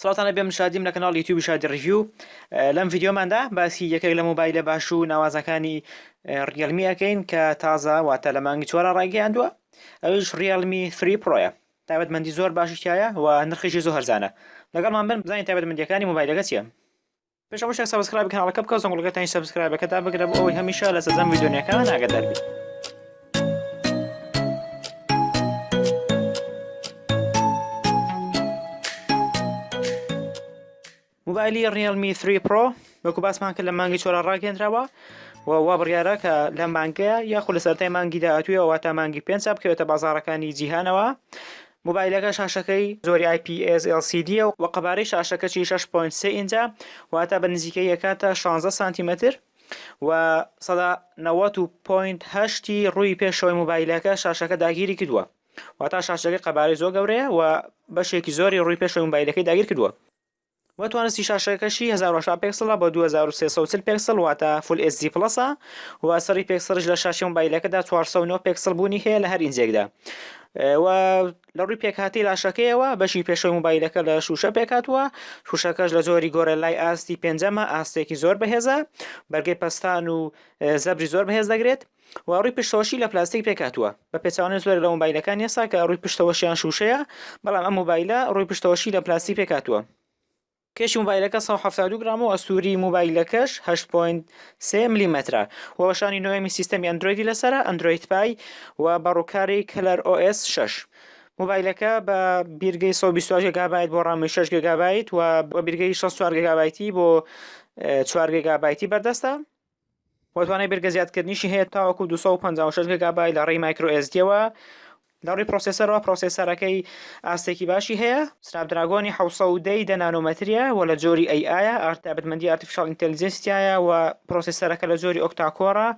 سڵاوتان لەبێ من شادیم لە کەناڵ یوتیوبی شادی ڕیڤیو لەم ڤیددیۆماندا باسی یەکێک لە مۆبایلە باش و ناوازەکانی ڕیلمی ئەەکەین کە تازە واتە لە مانگی چۆرە ڕایگەیاندووە ئەوش ڕیلمی فری پرۆیە تابەتمەندی زۆر باشیشتایە و نرخیشی زۆر هەرزانە لەگەڵمان بن بزانین تابەتمەندیەکانی مۆبایلەکە چیە پێش هەموو شتێک سەبسکرایبی کەناڵەکە بکە زەنگوڵەکەتانی سەبسکرایبەکە دابگرە بۆ ئەوەی هەمیشە لە سەرجەم ڤیدیۆ نوێکان ئاگادار بیت موبایلی ڕیلمی 3 پرۆ وەکو باسمان کرد لە مانگی چۆرا ڕاگەندراوە و وا بڕیارە کە لە مانگەیە یاخود لە سەرای مانگی داهاتوویەوە واتا مانگی پێنج بکەوێتە بازارەکانی جیهانەوە مۆبایلەکە شاشەکەی زۆری ئای پی ئێس ئێڵ سی دیە و قەبارەی شاشەکەشی شەش پۆینت سێ ئینجە واتە بە نزیکەی ئەکاتە شانزە سانتیمەتر و سەدا نەوەت و پۆینت هەشتی ڕووی پێشەوەی مۆبایلەکە شاشەکە داگیری کردووە واتا شاشەکەی قەبارەی زۆر گەورەیە و بەشێکی زۆری ڕووی پێشەوەی مۆبایلەکەی داگیر کردووە. و توانستی شاشەکەشی 1080 پێکسڵە بۆ 2340 پێکسڵ واتە فول ئێس دی پڵەسە و سەری پێکسڵش لە شاشی مۆبایلەکەدا 409 پێکسڵ بوونی هەیە لە هەر ئینجێکدا و لە ڕووی پێکهاتی لاشەکەیەوە بەشی پێشەوەی مۆبایلەکە لە شوشە پێکاتوە شوشەکەش لە زۆری گۆرەلای ئاستی پێنجەمە ئاستێکی زۆر بەهێزە بەرگەی پەستان و زەبری زۆر بەهێز دەگرێت و ڕووی پشتەوەشی لە پلاستیک پێکهاتووە بە پێچەوانەی زۆرێک لە مۆبایلەکانی ئێستا کە ڕووی پشتەوەشیان شووشەیە بەڵام ئەم مۆبایلە ڕووی پشتەوەشی لە پلاستیک پێکهاتووە کێشی مۆبایلەکە سەد و حەفتا و دوو گرام و ئەستووری مۆبایلەکەش هەشت پۆینت سێ ملیمەترە و وەشانی نۆیەمی سیستەمی ئەندرۆیدی لەسەرە ئەندرۆید پای و بە ڕووکاری کەلەر ئۆ ئێس شەش مۆبایلەکە بە بیرگەی سەد و بیست و هەشت گێگابایت بۆ ڕامی شەش گێگابایت و بە بیرگەی شەست و چوار گێگابایتی بۆ چوار گێگابایتی بەردەستە و توانای بەرگە زیادکردنیشی هەیە تاوەکو دوو سەد و پەنجا و شەش گگابای لە ڕێی مایکرۆ ئێس دییەوە، لە ڕووی پرۆسێسەرەوە پرۆسێسەرەکەی ئاستێکی باشی هەیە، سناپدراگۆنی حەوت سەد و دە ی دە نانۆمەترییە و لە جۆری ئەی ئایە، ئارت تایبەتمەندی ئارتیفیشاڵ ئینتێلیجێنسی تیایە و پرۆسێسەرەکە لە جۆری ئۆکتا کۆرە،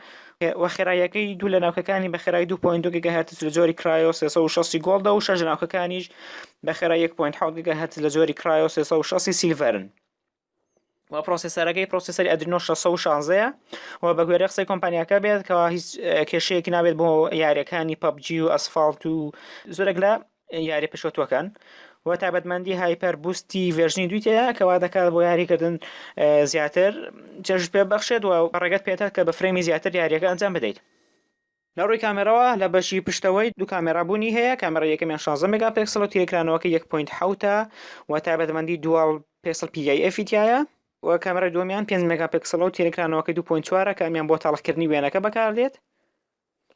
و خێراییەکەی دوو لە ناوکەکانی بە خێرای دوو پۆینت دوو گگاهێرتز لە جۆری کرایۆ سێ سەد و شەست ی گۆڵدە و شەش لە ناوکەکانیش بە خێرای یەک پۆینت حەوت گگاهێرتز لە جۆری کرایۆ سێ سەد و شەست ی سیلڤەرن. و پرۆسێسەرەکەی پرۆسێسەری ئەدرینۆ 616 ە و بە گوێرە قسەی کۆمپانیاکە بێت کە هیچ کێشەیەکی نابێت بۆ یاریەکانی پەبجی و ئەسفاڵت و زۆرێک لە یاری پێشوەتوەکان و تابەتمەندی هایپەر بوستی ڤێژنی دویتەیە کەوا دەکات بۆ یاریکردن زیاتر چێژ پێ بەخشێت و ڕێگەت پێێتە کە بە فرەمی زیاتر یاریەکە ئەنجام بدەیت لە ڕووی کامێراوە لە بەشی پشتەوەی دوو کامێرا بوونی هەیە، کامێرای یەکەمیان شازدە مێگاپێکسڵە و تێرکرانەوەکەی یەک پۆینت حەوتە و تایبەتمەندی دوال پێسڵ پی ئای ئێفی تیایە، و کامێرای دووەمیان پێنج مێگاپێکسڵە و تێرکرانەوەکەی دوو پۆینت چوارە کە ئەمیان بۆ تاڵخکردنی وێنەکە بەکاردێت،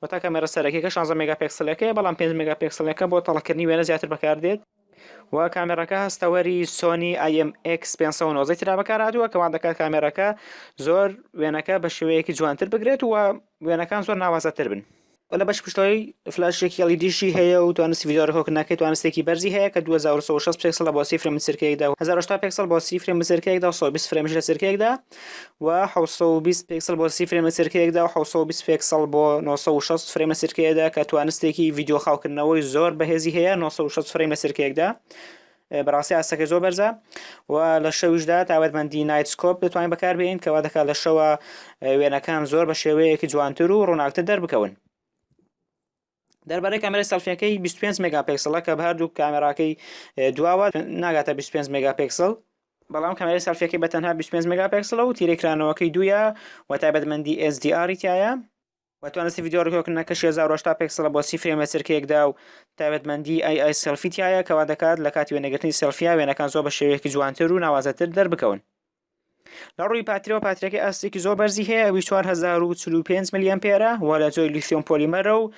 واتە کامێرا سەرەکیەکە شازدە مێگاپێکسڵەکەیە بەڵام پێنج مێگاپێکسڵەکە بۆ تاڵخکردنی وێنە زیاتر بەکاردێت. و کامێرەکە هەستەوەری سۆنی ئای ئەم ئێکس پێنج سەد و نۆزدە ترا بەکارهاتووە کەوان دەکات کامێرەکە زۆر وێنەکە بە شێوەیەکی جوانتر بگرێت و وێنەکان زۆر ناوازەتر بن و لە بەش پشتەوەی فلاشێکی ئەڵیدیشی هەیە و توانستی ڤیدیۆ ڕێکۆگنەکەی توانستێکی بەرزی هەیە کە 2960 پێکسڵە بۆ سی فرێم لە چرکەیەکدا و 1080 پێکسڵ بۆ سی فرێم لە چرکەیەکدا و 120 فرێمیش لە چرکەیەکدا و حەوت سەد و بیست پێکسڵ بۆ سی فرەیم لە چرکەیەکدا و حەوت سەد و بیست پێکسڵ بۆ نۆ سەد و شەست فرەیم لە چرکەیەدا کە توانستێکی ڤیدیۆ خاوکردنەوەی زۆر بەهێزی هەیە نۆ سەد و شەست فرەیم لە چرکەیەکدا بەڕاستی ئاستەکە زۆر بەرزە و لە شەویشدا تاوەتمەندی نایتسکۆپ دەتوانین بەکاربێنین کەوا دەکات لە شەوە وێنەکان زۆر بە شێوەیەکی جوانتر و ڕووناکتر دەربکەون دەربارەی کامێرای سەڵفیەکەی 25 مێگاپێکسڵە کە هەردوو کامێراکەی دواوە ناگاتە 25 مێگاپێکسڵ بەڵام کامێرای سەڵفیەکەی بە تەنها 25 مێگاپێکسڵە و تیرەی کرانەوەکەی دوویە و تایبەتمەندی SDR تایە و توانستی ڤیدیۆ ڕکۆکردنەکەش 1080 پێکسڵە بۆ سی فرێمە چرکەیەکدا و تایبەتمەندی ئای ئای سێلفی تایە کەوا دەکات لە کاتی وێنەگرتنی سێلفیا وێنەکان زۆر بە شێوەیەکی جوانتر و ناوازەتر دەربکەون لە ڕووی پاترەوە پاترەکە ئاستێکی زۆر بەرزی هەیە ئەوی 4045 ملیەن پێرە و لە جۆی لیسیۆم پۆلیمەرە و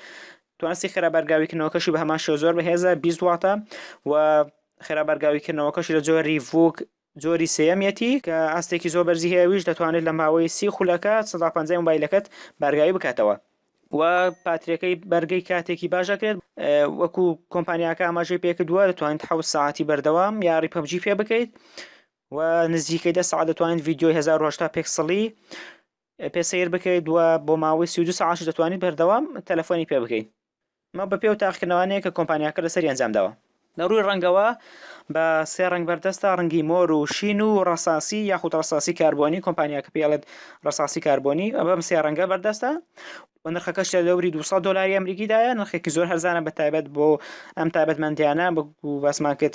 توانستی خێرا بەرگاویکردنەوەکەشی بە هەمان شێوە زۆر بەهێزە 20 واتە و خێرا بەرگاویکردنەوەکەشی لە جۆری ڤوک جۆری سێەمیەتی کە ئاستێکی زۆر بەرزی هەیەویش دەتوانێت لە ماوەی سی خولەکە 150 مبایلەکەت بارگاوی بکاتەوە و پاترەکەی بەرگەی کاتێکی باشەکرێت وەکو کۆمپانیاکە ئاماژەی پێکردووە دەتوانیت حوت ساعتی بەردەوام یاری پبجی پێ بکەیت و نزیکەی دە سەعات دەتوانیت ڤیدیۆی 1080 پێکسڵی پێ سیر بکەیت و بۆ ماوەی 32 سەعاتش دەتوانیت بەردەوام تەلەفۆنی پێ بکەیت مە بە پێ و تاقیکردنەوانەیە کە کۆمپانیاکە لەسەری ئەنجام داوە لە ڕووی ڕەنگەوە بە سێ ڕەنگ بەردەستە ڕەنگی مۆر و شین و ڕەساسی یاخود ڕەساسی کاربۆنی کۆمپانیاکە پێڵێت ڕەساسی کاربۆنی بەم سێ ڕەنگە بەردەستە و نرخەکەش لە دەوری 200 دلاری ئەمریکیدایە نرخێکی زۆر هەرزانە بە تایبەت بۆ ئەم تایبەتمەندیانە بەسمان کرد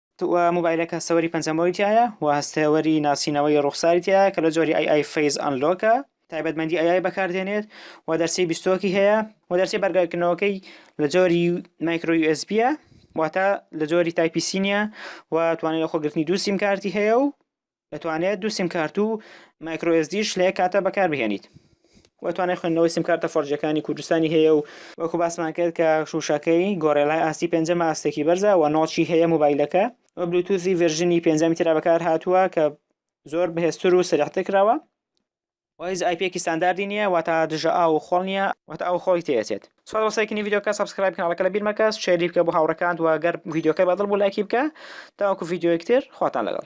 موبایلەکە سەوەری پەنجەمۆری تیایە و هەستێوەری ناسینەوەی ڕوخساری تیایە کە لە جۆری ئای ئای فەیس ئەنلۆکە تایبەتمەندی ئای ئای بەکاردێنێت و دەرچەی بیستۆکی هەیە و دەرچەی بەرگەکردنەوەکەی لە جۆری مایکرۆ یو ئێس بیە واتە لە جۆری تایپی سینیە و توانای لەخۆگرتنی دوو سیم کارتی هەیە و دەتوانێت دوو سیمکارت و مایکرۆ ئێسدیش لە یەک کاتە بەکاربهێنیت و توانای خوێندنەوەی سیمکارتە فۆرجەکانی کوردستانی هەیە و وەکو باسمان کرد کە شوشەکەی گۆرێلای ئاستی پێنجەمە ئاستێکی بەرزە و نۆچی هەیە موبایلەکە و بلوتوزی ڤێرژنی پێنجەمی ترا بەکار هاتووە کە زۆر بەهێزتر و سەریحتر کراوە و هیچ ئایپیەکی ستانداردی نییە واتە دژە ئاو و خۆڵ نییە واتە ئاو و خۆڵی تێ ئەچێت سوپاس بۆ سەیرکردنی ڤیدیۆکە سەبسکرایب کەناڵەکە لەبیر مەکە شێری بکە بۆ هاوڕێکانت و گەر ڤیدیۆکە بەدڵ بوو لایکی بکە تاوەکو ڤیدیۆیەک تر خواتان لەگەڵ